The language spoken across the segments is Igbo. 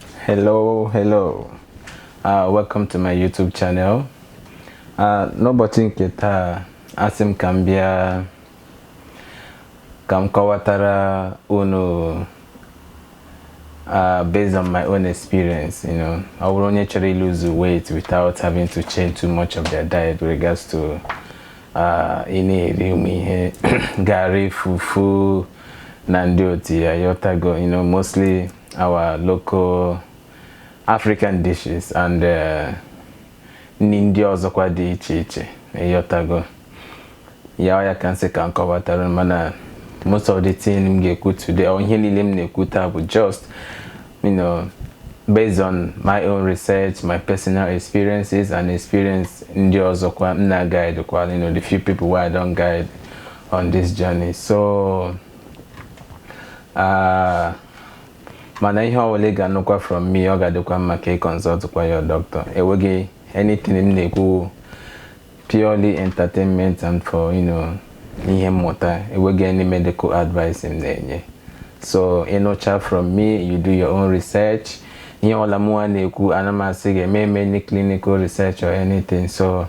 hello hello uh, welcome to my youtube channel uh, n'ụbọchị nke taa asị m ka m bịa ka m kọwatara unu uh, based on my own experience, you know, I would only actually lose weight without having to change too much of their diet with regards to uh, any gari, fufu, na ndị otu ya ịghọtago you know mostly our local African dishes and uh, nri ndị ọzọkwa dị iche iche ịghọtago ya ọ ya ka m sị ka m kọwatara mana most of the thing m ga-ekwu today or ihe niile m na-ekwu taa bụ just you know based on my own research my personal experiences and experience ndị ọzọkwa m na-guide kwa you know the few people wey I don guide on this journey so uh, mana ihe ọbụla ị ga-anụkwa from me ọ ga-adịkwa mma ka ị consult kwa your doctor enweghị anything m na-ekwu purely entertainment and for you know ihe mmụta enweghị any medical advice m na-enye so ị nụcha from me you do your own research ihe ọbụla mụwa na-ekwu ana m asị gị eme m any clinical research or anything so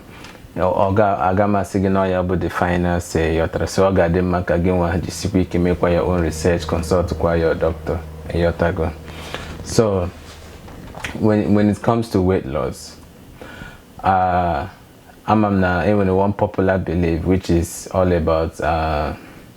aga m asị gị na ọ ya bụ the final say ịghọtara so ọ ga-adị mma ka gị nwa jisikwa ike mekwa your own research consult kwa your doctor ịghọtago so when, when it comes to weight loss uh, ama m na enwere one popular belief which is all about uh,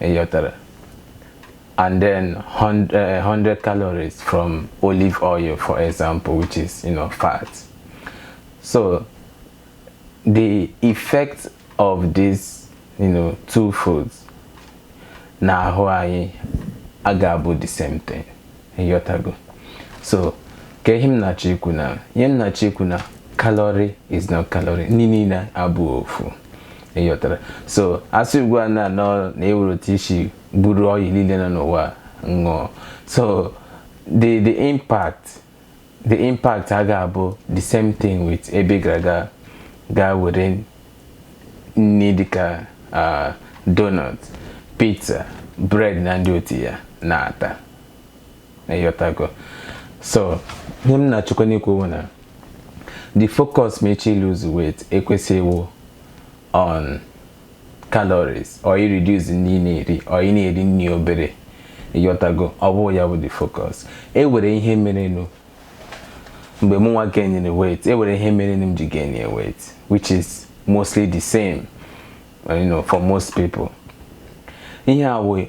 ịghọtara and then 100, uh, 100 calories from olive oil for example which is you know fat so the effect of these you know two foods n'ahụ anyị a ga-abụ the same thing ịghọtago so ka ihe m na-achọ ikwu na ihe m na-achọ ikwu na calorie is not calorie nri niile abụghị ofu ịghọtara so a sị ugbu a na-anọ na ewere otu isi buru oil niile nọ n'ụwa ṅụọ so the the impact the impact a ga-abụ the same thing with ebe ị gara aga gaa were nri dịka uh, donut pizza bread na ndị otu ya na-ata ịghọtago so ihe m na-achọkwanụ ikwu bụ na the focus ma ị chọọ ị lose weight ekwesịghị ịbụ on calories or i reduce nri ị na-eri or ị na-eri nri obere ịghọtago ọ bụ ya bụ the focus e nwere ihe merenụ mgbe mụ nwa gainere weight e nwere ihe merenụ m ji gainye weight which is mostly the same you know, for most people ihe a wee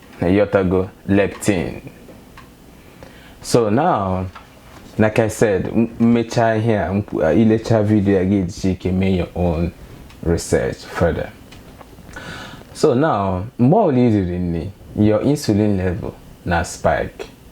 na ịghọtago leptin so now like i said m mecha ihe a i lecha video a ị ga-ejisi ike mee your own research further so now mgbe ọbụla i riri nri your insulin level na-spike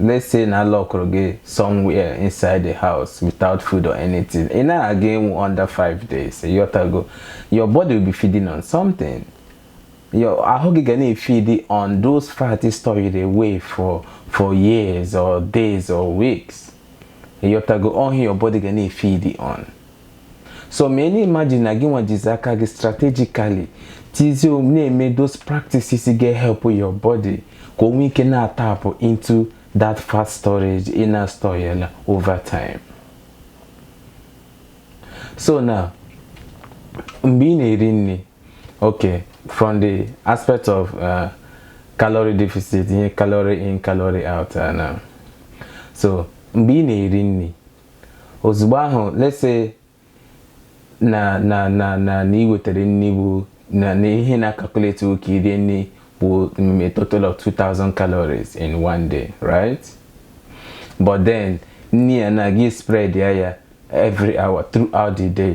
let's say na lock again somewhere inside the house without food or anything in a game under five days a year ago your body will be feeding on something your ahụ gị ga na-efidi on those fat ị stored away for for years or days or weeks ịghọtago ọhịa your body ga na-efidi on so mana imagine na gị nwa jizi aka gị strategically tizie um, na-eme those practices ga-ehelp your body ka o nwee ike na-atapụ into that fat storage ị na-store ya na over time so na mgbe ị na-eri nri okay from the aspect of uh, calorie deficit ihe calorie in calorie out uh, na so mgbe ị na-eri nri ozugbo ahụ let's say na na na na na i wetere nri bụ na na ihe na-akakuleti ka i rie nri bụ mm, a total of 2000 calories in one day right but then nri a na gị spread ya every hour throughout the day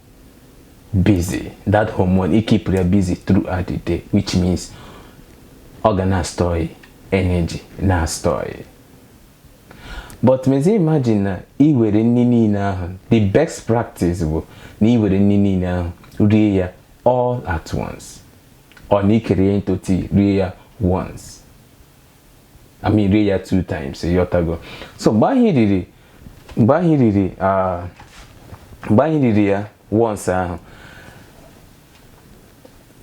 busy that hormone ị keep ya busy throughout the day which means ọ ga na-astọị energy na-astọị but mezie imagine na i were nri niile ahụ the best practice bụ na i were nri niile ahụ rie ya all at once or na i kere ya into two rie ya once I mean rie ya two times ịghọtago so mgbe ahụ i riri mgbe ahụ i riri ah, mgbe ahụ i riri ya once ahụ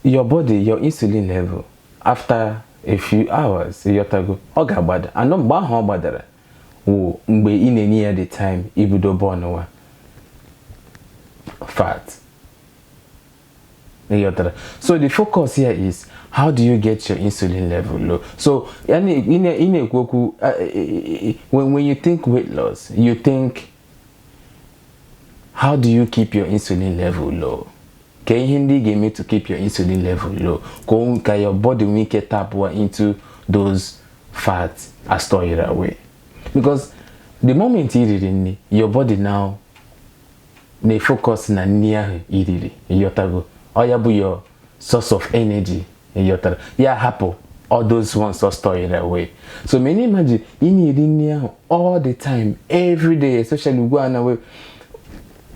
your body your insulin level after a few hours ịghọtago ọ ga-agbada and na mgbe ahụ ọ gbadara wụ mgbe ị na-enye ya the time ibido bọnụwa fat ịghọtara so the focus here is how do you get your insulin level low so ya na- ị na- ị na-ekwu okwu uh, when, when you think weight loss you think how do you keep your insulin level low kee ihe ndị ị ga-eme to keep your insulin level low ka o- ka your body nwee ike tapụwa into those fat a stọịrị away because the moment i riri nri your body now na-efokọs na nri ahụ i riri ịyọtago ọ ya bụ your source of energy ịyọtara ya hapụ all those ones ọ stọịrị away so mana imagine ị na-eri nri ahụ all the time every day especially ugbu a na we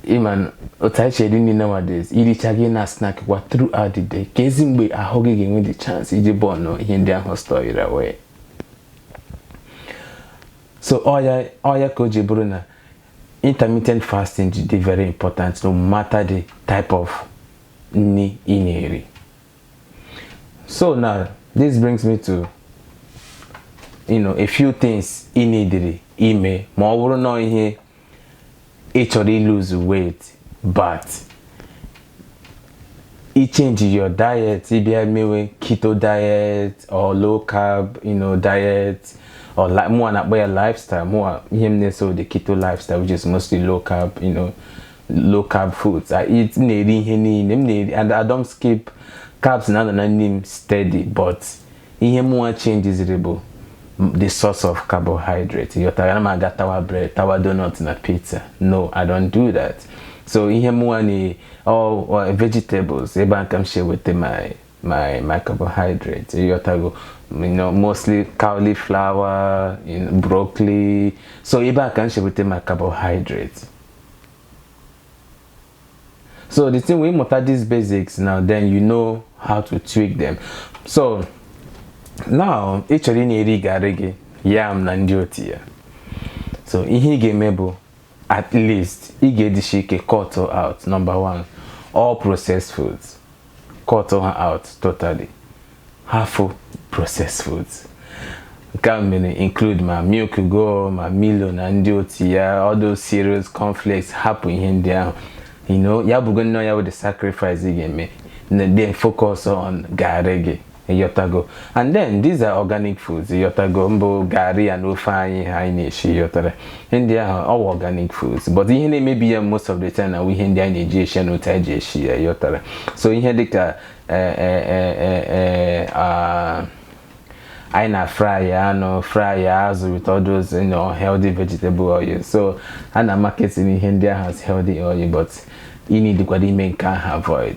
ị ma otu anyị si eri nri nowadays i richa gị na snack kwa throughout the day keezi mgbe ahụ gị ga-enwe the chance iji bọnụ ihe ndị ahụ stored away so ọ ya ọ ya ka o ji bụrụ na intermittent fasting dị dị very important no matter the type of nri ị na-eri so now this brings me to you know a few things i needịrị ime ma ọ bụrụ na ihe ị chọrọ iluzu weight but i change your diet ị bịa mewe keto diet or low carb you know, diet or li- mụwa na-akpọ ya lifestyle mụwa ihe m na-eso the keto lifestyle which is mostly low carb you know, low carb foods I eat m na-eri ihe niile m na-eri and I don't skip carbs na-anọ na nri m steady but ihe mụnwa chenjiziri bụ the source of carbohydrate ịghọtago ana m aga tawa bread tawa donut na pizza no i don't do that so ihe mụnwa na all uh, vegetables ebe a ka m si eweta my my my carbohydrate ịghọtago you know, mostly cauliflower you know, broccoli so ebe a ka m si eweta my carbohydrate so the thing wụ ị mụta these basics now then you know how to tweak them so now ị chọrọ ị na-eri garị gị yam na ndị otu ya so ihe ị ga-eme bụ at least ị ga-edishi ike cut out number one all processed foods cut ha out totally hafụ processed foods nke a mere include ma milk o ma milo na ndị otu ya all those cereals cornflakes hapụ ihe ndị ahụ you know ya bụgo nnọọ ya wụ the sacrifice ị ga-eme and then focus on garị gị ịghọtago and then these are organic foods ịghọtago mbụ garị ya na ofe anyị anyị na-esi ịghọtara ihe ndị ahụ ọ wụ organic foods but ihe na-emebi ya most of the time wụ ihe ndị anyị na-eji esi ya na otu anyị ji esi ya ịghọtara so ihe dịka eh, eh, eh, eh, eh, ah, anyị na fry ya anụ fry ya azụ with all those you know, healthy vegetable oil so a na-amarketi ihe ndị ahụ as healthy oil but ị needikwara ime nke ahụ avoid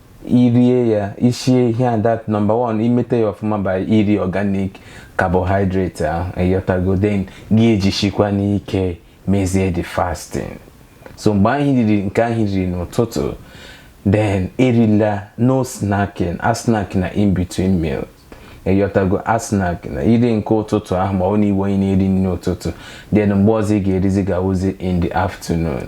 irie ya isie ihe a that number one imete ya ọfụma by iri organic carbohydrate ahụ ịghọtago then gị ejishikwanụ ike mezie the fasting so mgbe anyị riri nke anyị riri n'ụtụtụ then erila no snacking asnackna in between meals ịghọtago asnackna i rie nke ụtụtụ ahụ ma ọ na ị wụ onye na-eri nri ụtụtụ then mgbe ọzọ ị ga-erizi ga-awụzi in the afternoon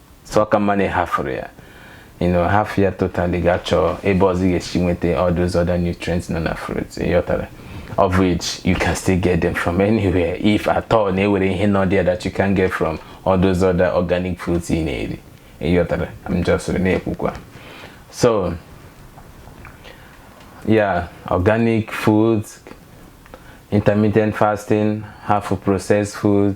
so ọ ka mma na ịhafụrụ ya you know hafụ ya totally gaa chọọ ebe ọzọ ị ga-esi nweta all those other nutrients nọ na fruit ịghọtara of which you can still get them from anywhere if at all na e nwere ihe nọ there that you can get from all those other organic foods ị na-eri ịghọtara I'm just na-ekwukwa so yeah organic food intermittent fasting hafụ processed food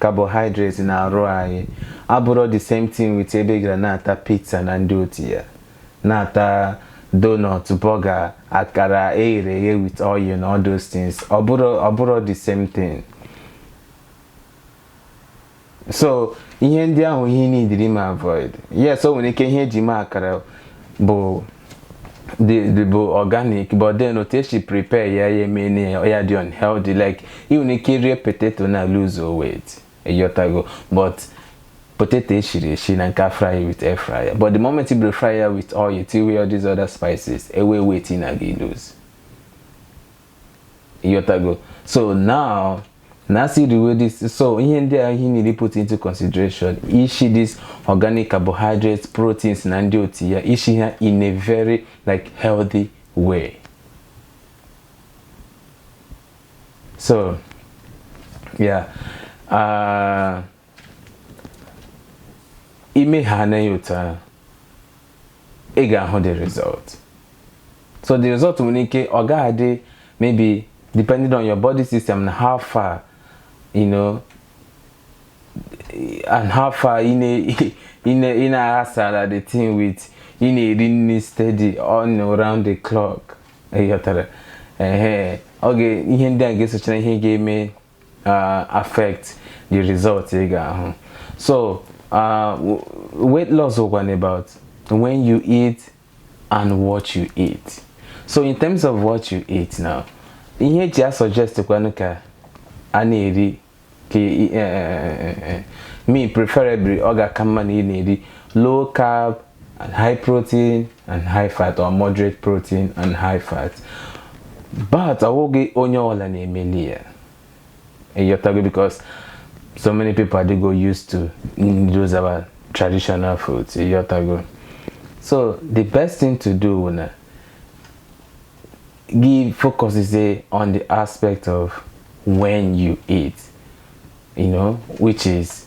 Carbohydrates na arụ anyị abụrọ the same thing with ebe ị gara na-ata pizza na ndị otu ya na-ata donut burger akara eghere eghe with oil na all those things ọ bụrọ the same thing so ihe ndị ahụ ihe ị needịrị ma avoid yes o nwere ike ihe eji mee akara bụ dị bụ organic but then otu esi prepare ya ya eme na ya dị unhealthy like ị nwere ike rie potato na lose weight ịghọtago but potato eshiri eshi na nke e fry with air fryer but the moment i buru fry ya with oil tiwe all these other spices enwe weight ị na-aga ịlose ịghọtago so now na asị riwe this so ihe ndị a ihe ị needịrị put into consideration ishi this organic carbohydrates proteins na ndị otu ya ishi ha in a very like healthy way so yeah uh, i mee ha na ịghọta ị ga-ahụ the result so the result nwere ike ọ ga-adị maybe depending on your body system and how far you know and how far ị na-aghasala the thing with ị na-eri nri steady on around the clock ịghọtara ehe okay ihe ndị a ga-esocha ihe ga-eme uh, affect the result ị ga-ahụ so uh, weight loss wụkwan about when you eat and what you eat so in terms of what you eat now ihe eji a suggest kwanụ ka a na-eri ka eh, eh, eh, me preferably ọ ga-aka mma na ị na-eri low carb and high protein and high fat or moderate protein and high fat but awụghị onye ọbụla na-emeli ya ịghọtago because so many people adịgo used to those our traditional foods ịghọtago so the best thing to do bụ na give focus is a, on the aspect of when you eat you know which is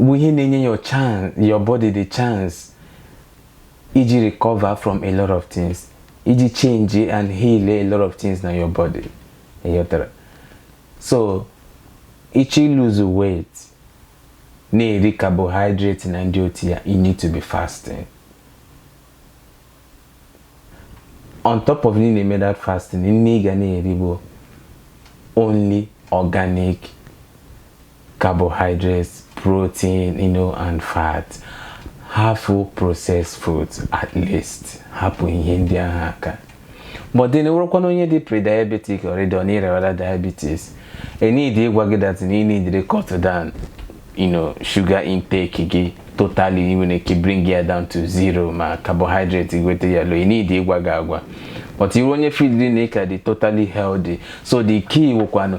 bụ ihe na-enye your chance your body the chance iji recover from a lot of things iji change and heal a lot of things na your body ịghọtara so ị chọ ịlose weight na-eri carbohydrate na ndị otu ya you need to be fasting on top of na ị na-eme that fasting nri ị ga na-eri bụ only organic carbohydrates, protein, you know, and fat. Hapụ processed food at least. Hapụ ihe ndị ahụ aka. But then ị wụrụkwanụ onye dị pre-diabetic already or nwewara diabetes. E need ịgwa gị that na ị need cut down you know, sugar intake gị totally i nwere ike bring ya down to zero ma carbohydrate gweta ya low. You need ịgwa gị agwa. But ị wụrụ onye feelị na ị ka dị totally healthy. So the key wụkwanụ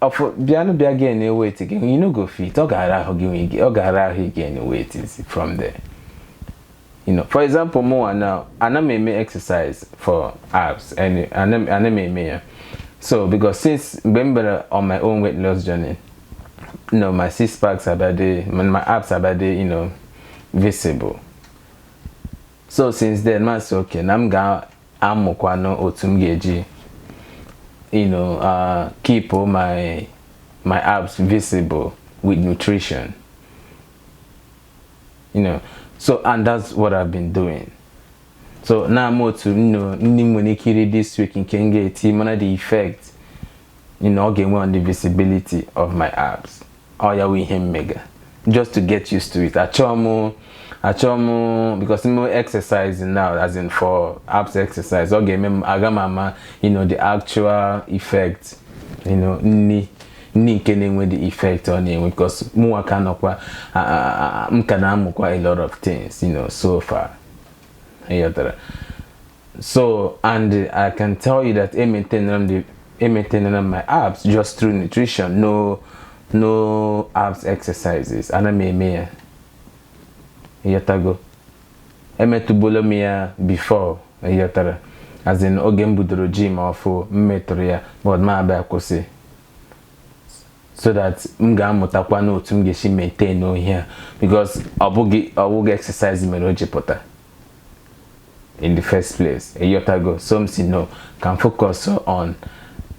ọfụ bịanụ bịa gain weight you no go fit ọ ga-ara ahụ gị nwe gị ọ ga-ara ahụ gain weight is from there you know for example mụnwa now ana m eme exercise for abs and ana m eme ya so because since mgbe m bere on my own weight loss journey you know my six packs abịa dị my abs abịa dị you know visible so since then m asị okay na m ga amụkwanụ otu m ga-eji you know uh, keep my my abs visible with nutrition you know so and that's what I've been doing so now m otu nni ndị m nwere ike iri this week nke m ga-eji mana the effect you know, ọ ga-enwe on the visibility of my abs ọ ya wụ ihe m mega just to get used to it achọọ m achọọ m because m mee exercise now as in for abs exercise ọ ga-eme m aga m ama you know the actual effect you know nni nni nke na-enwe the effect ọ na-enwe because mụnwa ka nọkwa a- a- a- m ka na-amụkwa a lot of things you know so far ịghọtara so and i can tell you that e maintainere m the e maintainere m my abs just through nutrition no no abs exercises ana m eme ya ịghọtago emetụbolo m ya before ịghọtara as in oge m budoro gym ọfụ m metụrụ ya but m abịa kwụsị so that m ga-amụtakwanụ otu m ga-esi maintainuo ya because ọ bụghị ọ bụghị exercise mere o ji pụta in the first place ịghọtago so m sị no ka m focus on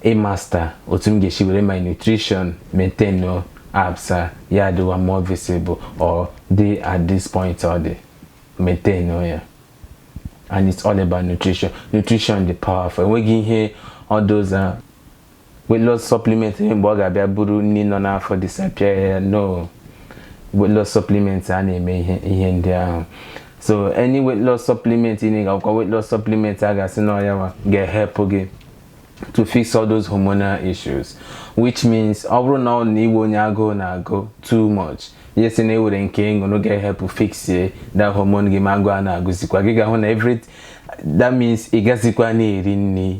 ịmaster otu m ga-esi were my nutrition maintainuo abs a ya adịwa more visible or dị at this point ọ dị maintainuo ya and it's all about nutrition nutrition dị powerful enweghị ihe all those uh, weight loss supplement mgbe ọ ga-abịa buru nni nọ n'afọ disappear ya no weight loss supplement a na-eme ihe ihe ndị ahụ so any weight loss supplement ị na-egokwa weight loss supplement a ga-asị na ọ ya ga-ehelpụ gị to fix all those hormonal issues which means ọ bụrụ na ọ na ị wụ onye agụụ na-agụ too much yes na enwere nke ị ṅụrụ ga-ehelpụ fixie that hormone gị ma agụụ a na-agụzikwa gị ga-ahụ na every that means ị gazikwa na-eri nni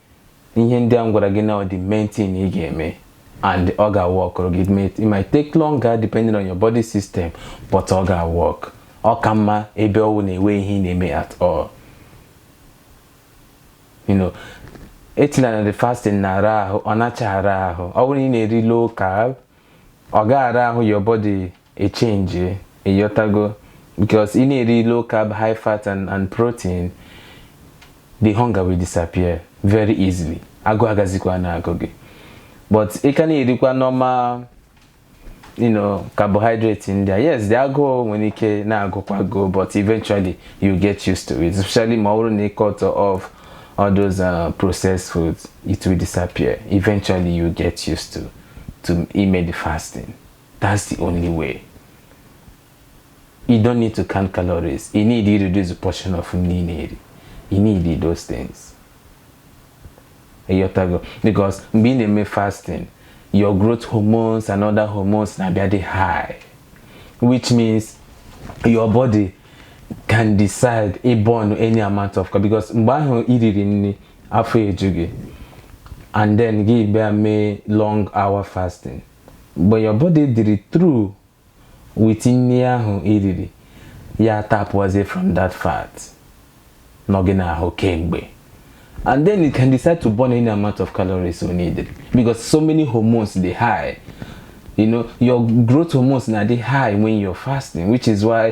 ihe ndị a m gwara gị now the main thing ị ga-eme and ọ ga-work gị it might take longer depending on your body system but ọ ga-work ọ ka mma ebe ọ wụ na enwe ihe ị na-eme at all you know alternate day fasting na-ara ahụ ọ nacha ara ahụ ọ bụrụ na ị na-eri low carb ọ gaghị ara ahụ your body echenji ịghọtago because ị na-eri low carb high fat and, and protein the hunger will disappear very easily agụụ agazikwa na-agụ gị but ị ka na-erikwa normal you know carbohydrate ndị a yes the agụụ nwere ike na-agụkwa gị o but eventually you get used to it especially ma ọ bụrụ na ị cut off all those uh, processed foods it will disappear eventually you get used to to ime the fasting that's the only way you don't need to count calories you need to reduce the portion of nri na-eri you need those things ịghọtago because mgbe ị na-eme fasting your growth hormones and other hormones na-abịa dị high which means your body can decide ịbọn any amount of because mgbe ahụ iriri nri afọ eju gị and then gị bịa mee long hour fasting mgbe your body dịrị through with nri ahụ i riri ya tapụazie from that fat nọ gị n'ahụ kemgbe and then it can decide to burn any amount of calories you need because so many hormones dị high you know your growth hormones na-adị high when you're fasting which is why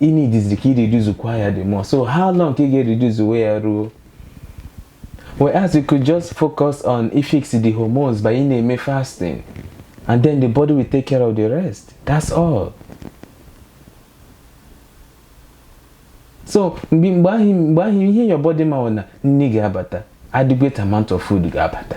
ị nidiziri ka i reduzukwa ya the more so how long ka ị ga-ereduce we ya ruo whereas you could just focus on ifix the hormones by ị na-eme fasting and then the body will take care of the rest that's all so mgbe mgbe ahụ mgbe ahụ ihe your body ma na nri ga-abata adequate amount of food ga-abata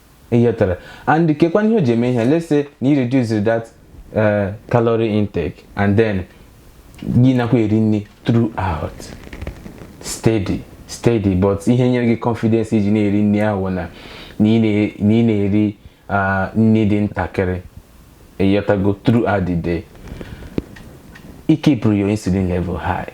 Ịghọtara. And keekwanụ ihe o ji eme ihe let's say na i reduce that uh, calorie intake and then gị nakwa eri nri throughout steady steady but ihe nyere gị confidence iji na-eri nri ahụ wụ na ị na-eri uh, nri dị ntakịrị ịghọtago throughout the day ị kipụrụ your insulin level high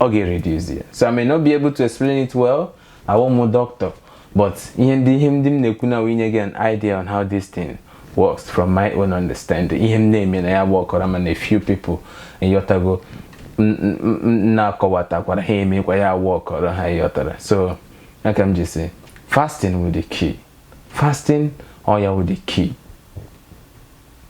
ọ ga-ereduzi ya so I may not be able to explain it well awụghị m doctor but ihe ndị ihe ndị m na-ekwu na ọ wụ inye gị an idea on how this thing works from my own understanding ihe m na-eme ya aworkọrọ m na a few people ịghọtago m- m- m- na-akọwatakwara ha emekwa ya aworkọrọ ha ịghọtara so ọ ka m ji sị fasting wụ the key fasting ọ ya wụ the key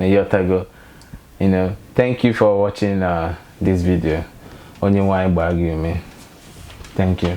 ịghọtago you know thank you for watching uh, this video Onye nwe anyị gbaa gị ume thank you